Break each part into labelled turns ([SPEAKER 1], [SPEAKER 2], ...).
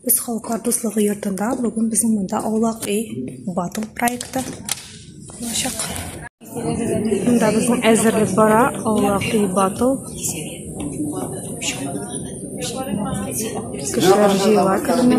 [SPEAKER 1] Без халыклар дуслыгы йортында бүген безнең монда аулак өй бату проекты булачак. Монда безнең әзерлек бара, аулак өй бату. Кешеләр җыела көнне.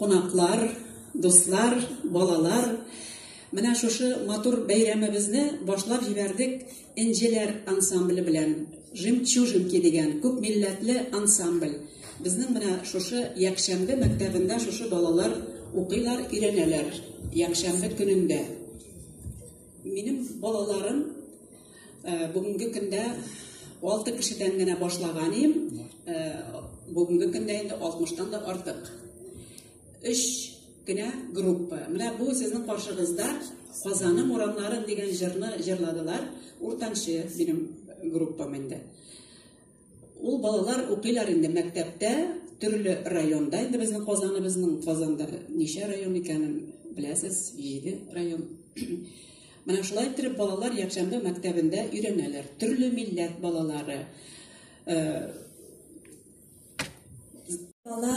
[SPEAKER 2] Кунаклар, дуслар, балалар, менә шушы матур бәйрәмебезне башлап җибәрдек Энҗеләр ансамбле белән. Жемчужинки дигән күпмилләтле ансамбль. Безнең менә шушы якшәмбе мәктәбендә шушы балалар укыйлар, өйрәнәләр. Якшәмбе көнендә. Минем балаларым. Э, бүгенге көндә алты кешедән генә башлаган идем э, бүгенге көндә инде алтмыштан да артык өч кенә группа менә бу сезнең каршыгызда казаным урамнарын дигән җырны җырладылар уртанчы минем группам инде Ул балалар укыйлар инде мәктәптә, төрле районда, инде безнең Казаныбызның, Казанда ничә район икәнен беләсез, җиде район. Менә шулай иттереп балалар якшәмбе мәктәбендә өйрәнәләр. Төрле милләт балалары. Э,
[SPEAKER 3] Бала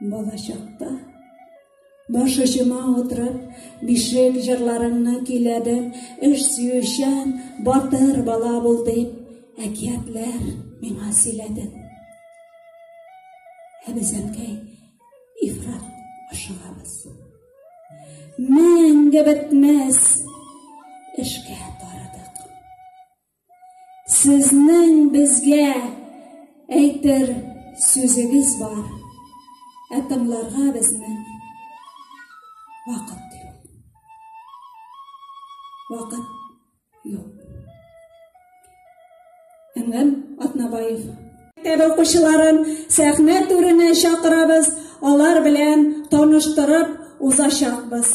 [SPEAKER 3] Балачакта Баш очыма утырып, бишек җырларыңны көйләдем, эш сөючән, батыр бала бул дип, әкиятләр миңа сөйләдең. Ә без әнкәй ифрат ашыгабыз. Мәңге бетмәс эшкә тарадык. Сезнең безгә әйтер сүзегез бар, ә тыңларга безнең вакыт юк. Вакыт юк. Әмгән Атнабаев. Мәктәп укучыларын сәхнә түренә чакырабыз, алар белән таныштырып узачакбыз.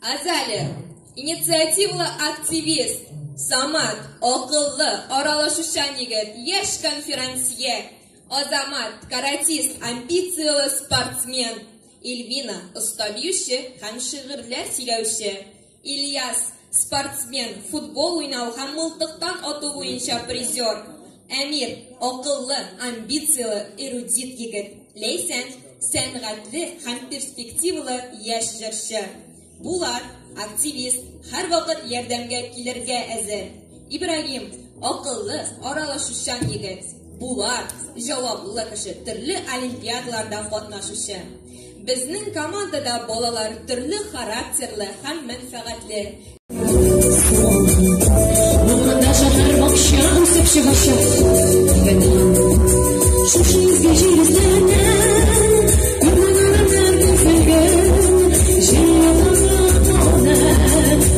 [SPEAKER 3] Азалия,
[SPEAKER 4] инициативлы активист, самат, акыллы, аралашучан егет, яшь конферансье, азамат, каратист, амбицияле спортсмен, Ильвина, оста биюче һәм шигырьләр сөйләүче. Ильяс, спортсмен, футбол уйнау һәм мылтыктан ату буенча призер. Әмир, акыллы, амбицияле, эрудит егет. Ләйсән, сәнгатьле һәм перспективалы яшь җырчы. Булат, активист, һәрвакыт ярдәмгә килергә әзер. Ибрагим, акыллы, аралашучан егет. Булат, җаваплы кеше, төрле олимпиадаларда катнашучы. Безнең командада балалар төрле характерлы һәм мәнфәгатьле. Булганда шәһәр бакча үсеп чыгачак. Шушы изге җир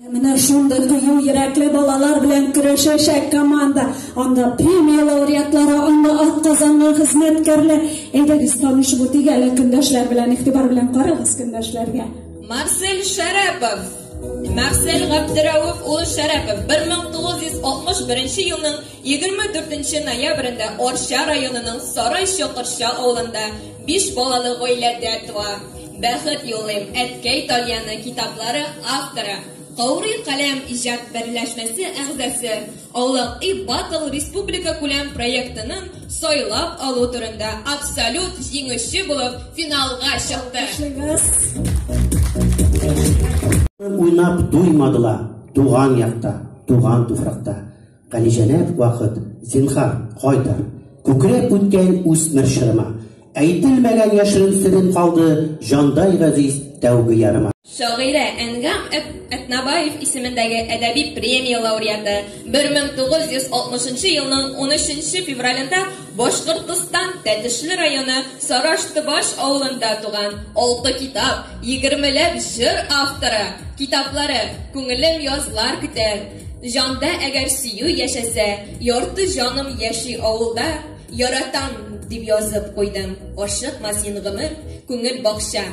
[SPEAKER 3] Менә шундый кыю йөрәкле балалар белән көрәшәчәк команда. Анда премия лауреатлары, анда ат казанган хезмәткәрләр. Әйдәгез, танышып үтик әле көндәшләр белән, игътибар белән карагыз көндәшләргә. Марсель
[SPEAKER 4] Шәрәпов. Марсель Габдерәүф улы Шәрәпов 1961 елның 24 ноябрендә Арча районының Сарай Чокырча авылында биш балалы гаиләдә туа. Бәхет юлыйм, Әткәй тальяны китаплары авторы, Каурый каләм иҗат берләшмәсе әгъзасы, Аулак и Батл республикакүләм проектының сайлап алу турында абсолют җиңүче булып финалга чыкты.
[SPEAKER 5] Уйнап туймадылар туган якта, туган туфракта. Галиҗәнәп вакыт, зинһар, кайта. Күкрәп үткән үсмер чорыма. Әйтелмәгән яшерен серем калды Җандай газиз тәүге ярыма. Шагыйрә Әнгам
[SPEAKER 4] Әтнабаев исемендәге әдәби премия лауреаты, 1960 елның 13 февралендә Башкортостан Тәтешле районы Сарашты-Баш авылында туган, алты китап, егермеләп җыр авторы, китаплары, Күңелем язлар көтә, Җанда әгәр сөю яшәсә, ярты җаным яши авылда, яратам дип язып куйдым. Ашыкма син гомер, күңел бакча.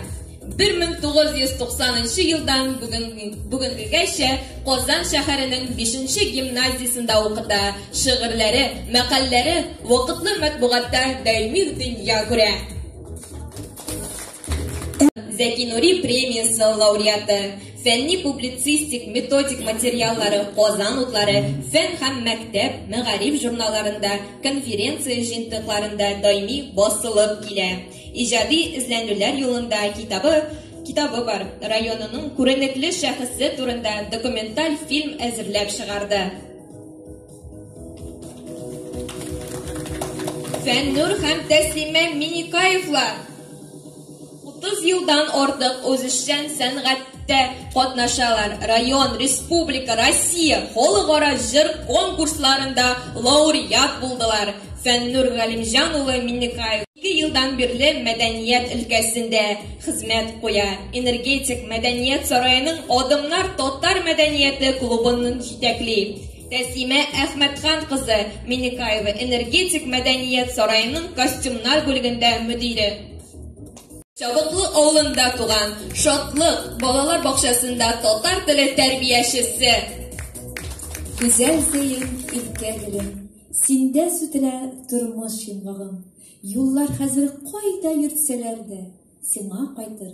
[SPEAKER 4] 1990 елдан бүген бүгенгегәчә Казан шәһәренең 5 гимназиясендә укыта. Шигырьләре, мәкальләре вакытлы матбугатта даими дөнья күрә. Зәки Нури премиясе лауреаты Фәнни публицистик методик материаллары Казан утлары фән һәм мәктәп, мәгариф журналларында, конференция җыентыкларында даими басылып килә. Иҗади эзләнүләр юлында китабы китабы бар. Районының күренекле шәхесе турында документаль фильм әзерләп чыгарды. Фәннур һәм Тәслимә Миникаевлар Утыз елдан артык үзешчән сәнгатьтә катнашалар, район, республика, Россия, халыкара җыр конкурсларында лауреат булдылар. Фәннүр Галимҗан улы Миннекаев ике елдан бирле мәдәният өлкәсендә хезмәт куя. Энергетик мәдәният сараеның Адымнар татар мәдәнияте клубын җитәкли. Тәсимә Әхмәтхан кызы Миннекаева Энергетик мәдәният сараеның костюмнар бүлегендә мөдире. Чабыклы авылында туган Шатлык балалар бакчасында татар теле тәрбиячесе.
[SPEAKER 6] Гүзәл зәем иркә гөлем, синдә сүтелә тормыш йомгагым. Юллар хәзер кайда йөртсәләр дә, сиңа кайтыр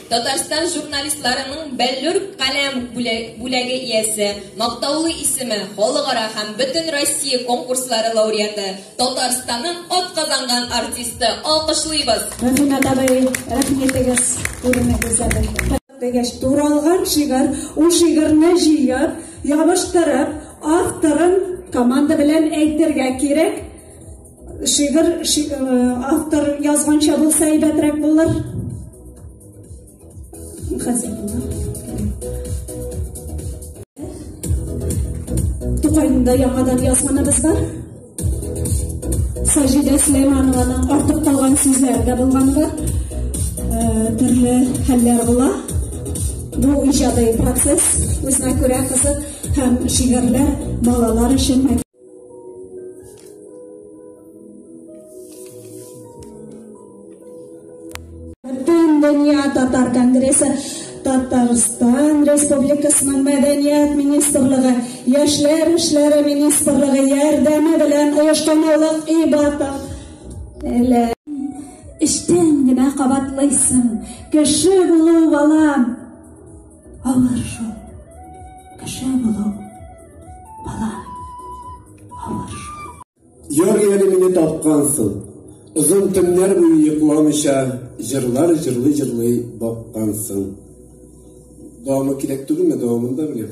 [SPEAKER 4] Татарстан журналистларының Бәллүр каләм бүләге иясе, мактаулы исеме, халыкара һәм бөтен Россия конкурслары лауреаты, Татарстанның атказанган артисты. Алкышлыйбыз! Рәхимә абый,
[SPEAKER 3] рәхим итегез, күренегез дигәч, туралган шигырь, ул шигырьне җыеп, ябыштырып, авторын команда белән әйтергә кирәк. Шигырь автор язганча булса әйбәтрәк булыр. Тукайында яңадан язганыбыз бар. Саҗидә Сулейманованың артып калган сүзләре дә булганга төрле хәлләр була. Бу иҗади процесс үзенә күрә кызык һәм шигырьләр балалар өчен Дөнья татар конгрессы Татарстан Республикасының мәдәният министрлыгы, яшьләр эшләре министрлыгы ярдәме белән оештырылган ибата. Әле эштән генә кабатлыйсың. Кеше булу балам, Авыр шул. Кеше булу. Бала. Авыр шул. Йор әле
[SPEAKER 7] мине тапкансың. Озын төннәр буе йокламыйча җырлар җырлый-җырлый баккансың. Дәвамы кирәк түгелме? Дәвамын да беләм.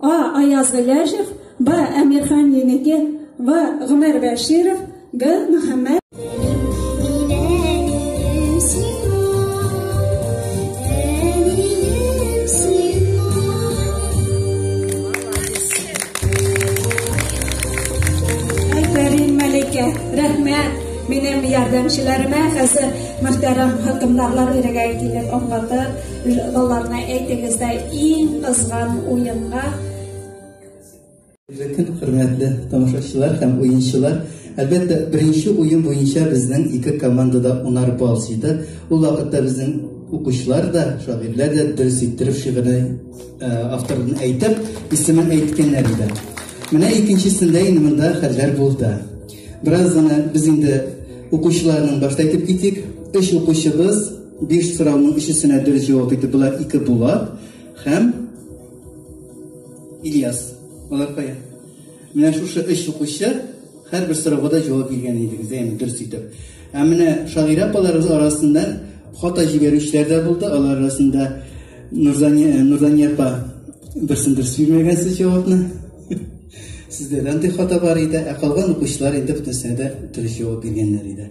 [SPEAKER 3] А. Аяз Гыйләҗев Б. Әмирхан Еники В. Гомәр Бәширов Г. Мөхәммәд Минем ярдәмчеләремә хәзер мөхтәрәм хөкемдарлар ирегә килеп аңлатыр. Балаларына әйтегез дә иң кызган уенга. Ирекел
[SPEAKER 8] хөрмәтле тамашачылар һәм уенчылар, әлбәттә, беренче уен буенча безнең ике команда да унар балл җыйды. Ул вакытта безнең укучылар да, шагыйрьләр дә дөрес иттереп шигырьне э, авторын әйтеп, исемен әйткәннәр иде. Менә икенчесендә инде монда хәлләр булды. Бераз гына без инде укучыларның башта әйтеп китик. Өч укучыбыз Биш сорауның өчесенә дөрес җавап итеп була ике Булат һәм Ильяс. Алар кая? Менә шушы өч укучы һәрбер сорауга да җавап биргән идегез, әйме дөрес итеп. Ә менә шагыйрә апаларыбыз арасында хата җибәрүчеләр дә булды. Алар арасында Нурзания, Нурзания апа берсен дөрес бирмәгән сез җавапны. Сездә дә андый хата бар иде, ә калган укучылар инде бөтенесенә дә дөрес җавап биргәннәр иде.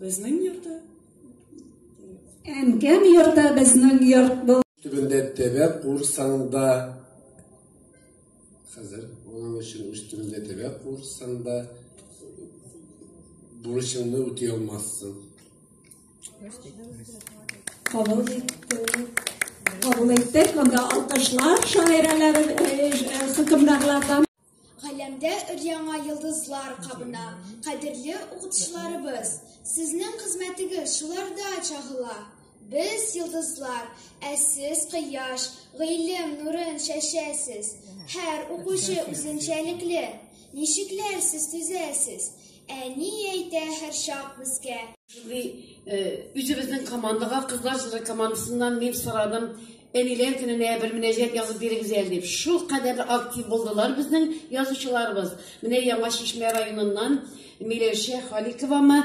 [SPEAKER 2] Безнең йортта.
[SPEAKER 3] Әнкәм йортта безнең йорт бу. Төбендә тәбә
[SPEAKER 7] курсаңда. Хәзер моның өчен үз төбендә тәбә курсаңда бурычыңны үти алмассың. Кабул
[SPEAKER 3] иттек. Кабул иттек. Монда алкышлар шагыйрәләре хөкемдарлардан. Галәмдә
[SPEAKER 9] өр-яңа йолдызлар кабына. Кадерле укытучыларыбыз, сезнең хезмәтегез шуларда чагыла. Без йолдызлар, ә сез кояш, гыйлем нурын чәчәсез. Һәр укучы үзенчәлекле. Ничекләр сез төзәсез? Ә ни әйтә һәрчак безгә? Шундый үзебезнең
[SPEAKER 10] командага, кызлар җыры командасыннан мин сорадым, Әниләр көненә бер мөнәҗәт язып бирегез әле дип. Шул кадәр актив булдылар безнең язучыларыбыз. Менә Яңа Чишмә районыннан Миләүшә Халиковамы,